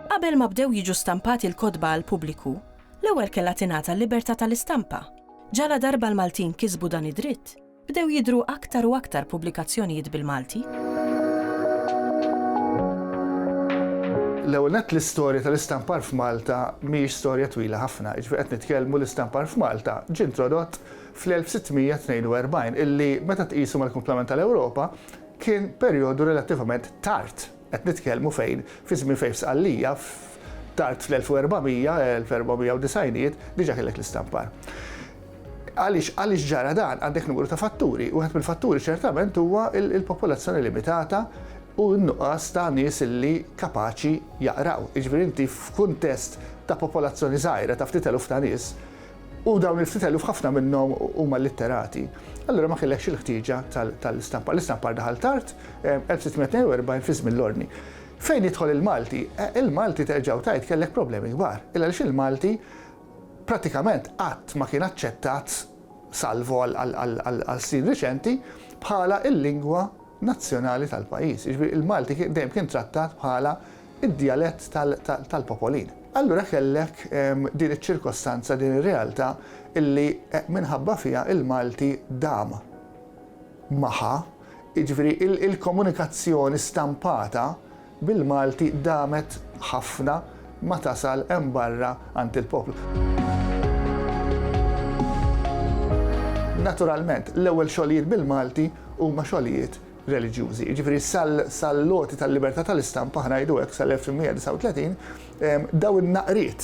Qabel ma bdew jiġu stampati l-kotba għall-pubbliku, l-ewwel kellha tingħata l-libertà tal-istampa. Ġaladarba l-Maltin kisbu dan id-dritt, Bdew jidhru aktar u aktar pubblikazzjonijiet bil-Malti. L-ewwel nett l-istorja tal-istampar f'Malta mhijiex storja twila ħafna, jiġifieri qed nitkellmu l-istampar f'Malta ġie introdott fl-1642 illi meta tqisu mal-kumplament tal-Ewropa kien perjodu relattivament tard. Qed nitkellmu fejn fi żmien fejn f'Sqallija tard fl-1400, l-1490ijiet, diġà kellek l-istampar. Għaliex għaliex ġara dan? Għandek numru ta' fatturi. Wieħed mill-fatturi ċertament huwa l-popolazzjoni limitata u n-nuqqas ta' nies li kapaċi jaqraw. Jiġifieri inti f'kuntest ta' popolazzjoni żgħira ta' ftit eluf ta' nies, U dawn il-ftit eluf ħafna minnhom huma litterati. Allura ma kellekx il-ħtieġa tal-istampar. L-istampar daħal tard, 1642 fi żmien l-Ordni. Fejn jidħol il-Malti? Il-Malti terġa' u tgħid kellek problemi kbar. Il għaliex il-Malti pratikament qatt ma kien aċċettat salvo għal snin riċenti bħala l-lingwa nazzjonali tal-pajjiż. Jiġifieri il-Malti dejjem kien trattat bħala id-djalett tal-popolin. Allura kellek din iċ-ċirkostanza, din ir-realtà li minħabba fiha il-Malti dam magħha, jiġifieri il-komunikazzjoni stampata bil-Malti damet ħafna ma tasal hemm barra għand il-poplu. Naturalment, l-ewwel xogħlijiet bil-Malti huma xogħlijiet reliġjużi. Jiġifieri sal-għoti tal-libertà tal-istampa, ħa ngħidu hekk, sal-1839, dawn in-naqriet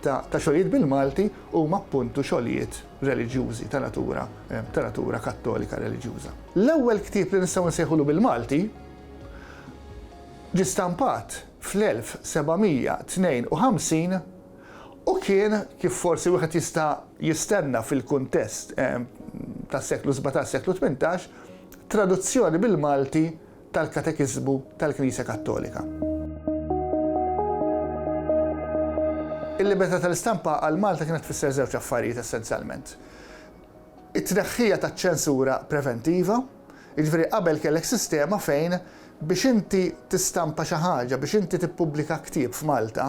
ta' xogħlijiet bil-Malti huma appuntu xogħlijiet reliġjużi ta' natura ta' natura kattolika reliġjuża. L-ewwel ktieb li nistgħu nsejħulu bil-Malti ġie stampat fl-1752 u kien, kif forsi wieħed jista' jistenna fil-kuntest tas-seklu sbatax-seklu tmintax, Traduzzjoni bil-Malti tal-Katekiżmu tal-Knisja Kattolika. Il-libertà tal-istampa għal Malta kienet tfisser żewġ affarijiet essenzjalment. It-tneħħija taċ-ċensura preventiva, jiġifieri qabel kellek sistema fejn biex inti tistampa xi ħaġa, biex inti tippubblika ktieb f'Malta,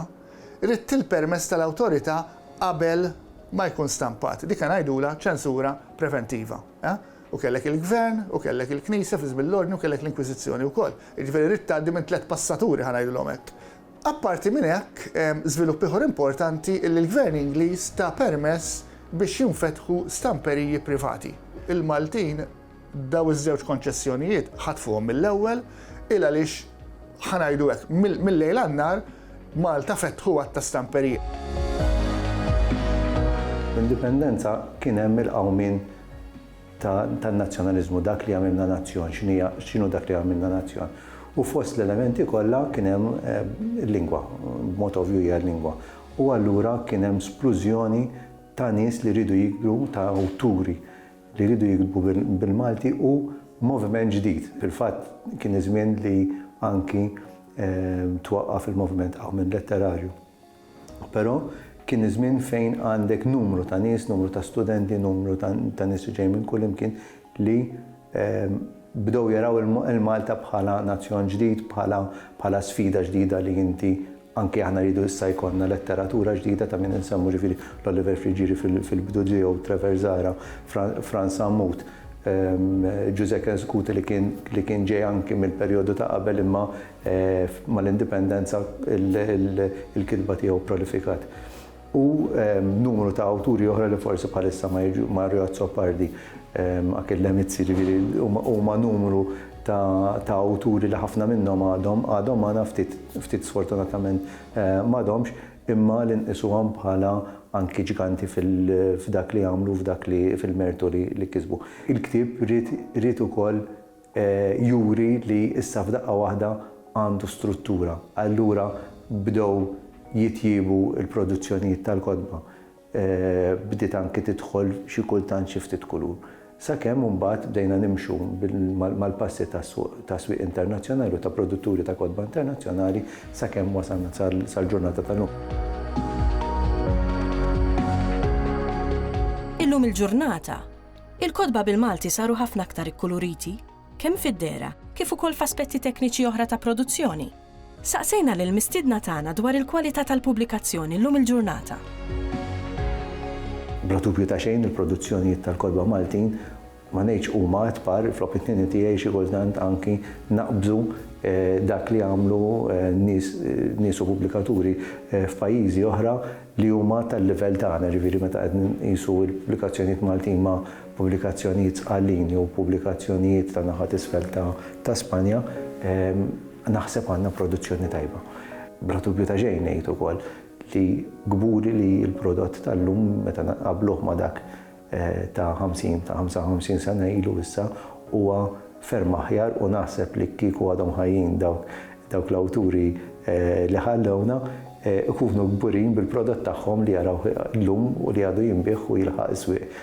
ridt il-permess tal-awtorità qabel ma jkun stampat. Dik ngħidulha ċensura preventiva. U kellek il-Gvern, u kellek il-Knisja fl-iż mill-Ordni u kellek l-Inkwiżizzjoni wkoll. Jiġifieri ridt tgħaddi minn tliet passaturi ħa ngħidilhom hekk. Apparti minn hekk, żvilupp ieħor importanti li l-Gvern Ingliż ta permess biex jinfetħu stamperiji privati. Il-Maltin dawn iż-żewġ konċessjonijiet ħatfuhom mill-ewwel, il għaliex ħa ngħidu hekk, mill-lejl għan-nhar, Malta fetħu għadd ta' stamperiji. Bl-Indipendenza kien hemm il-qawmien tan-nazzjonaliżmu, dak li jagħmilna nazzjon, x'inhu dak li jagħmilna nazzjon. U fost l-elementi kollha kien hemm il-lingwa, b'mod ovvju hija l-lingwa. U allura kien hemm splużjoni ta' nies li riedu jikbru, ta' awturi li riedu jiktbu bil-Malti u moviment ġdid. Fil-fatt kien iż-żmien li anki twaqqaf il-moviment Qawmien Letterarju. Però kien iż-żmien fejn għandek numru ta' nies, numru ta' studenti, numru ta' nies li ġejjin minn kullimkien li bdew jaraw il-Malta bħala nazzjon ġdid, bħala sfida ġdida li inti anke aħna rridu issa jkollna letteratura ġdida ta' min insemmu ġifieri l-Oliver Friggieri fil-bidu tiegħu, Trevor Zahra, Frans Sammut. Ġużè kien skuti li kien ġej anki mill-perjodu ta' qabel imma mal-Indipendenza l-kitba tiegħu prolifikat. U numru ta' awturi oħra li forsi bħalissa ma jiġu, Mario Azzopardi, Achille Lemizzi, ġifieri huma numru ta' awturi li ħafna minnhom għadhom magħna, ftit sfortunatament m'għadhomx. imma li nqisuhom bħala anki ġganti f'dak li għamlu u f'dak li fil-mertu li kisbu. Il-ktieb ried ried ukoll juri li issa f'daqqa waħda għandu struttura. Allura bdew jitjiebu l-produzzjonijiet tal-kotba. bdiet anki tidħol xi kultant xi ftit kulur. Sakemm imbagħad bdejna nimxu mal-passi tas-swieq internazzjonali u ta' produtturi ta' kotba internazzjonali sakemm wasalna sal-ġurnata tal-lum. Illum il-ġurnata, il-kotba bil-Malti saru ħafna aktar ikkuluriti, kemm fid-dehra kif ukoll f'aspetti tekniċi oħra ta' produzzjoni. Saqsejna lill-mistiedna tagħna dwar il-kwalità tal-pubblikazzjoni llum il-ġurnata. Bla dubju ta' xejn il-produzzjonijiet tal-kotba Maltin ma ngħidx huma at-par, fl-opinjoni tiegħi xi kultant anki naqbżu dak li għamlu nies nies u pubblikaturi f'pajjiżi oħra li huma tal-livell tagħna, jiġifieri meta qed nqisu l-pubblikazzjonijiet Maltin ma' pubblikazzjonijiet sqallin jew pubblikazzjonijiet ta' naħa t'isfel ta' Spanja, naħseb għandna produzzjoni tajba. Bla dubju ta' xejn ngħid ukoll li kburi li l-prodott tal-lum meta nqabbluh ma' dak ta' 50, ta' 55 sena ilu issa huwa ferm aħjar u naħseb li kieku għadhom ħajjin dawk l-awturi li ħallewna, ikunu kburin bil-prodott tagħhom li jarawh llum u li għadu jinbiegħ u jilħaq is-swieq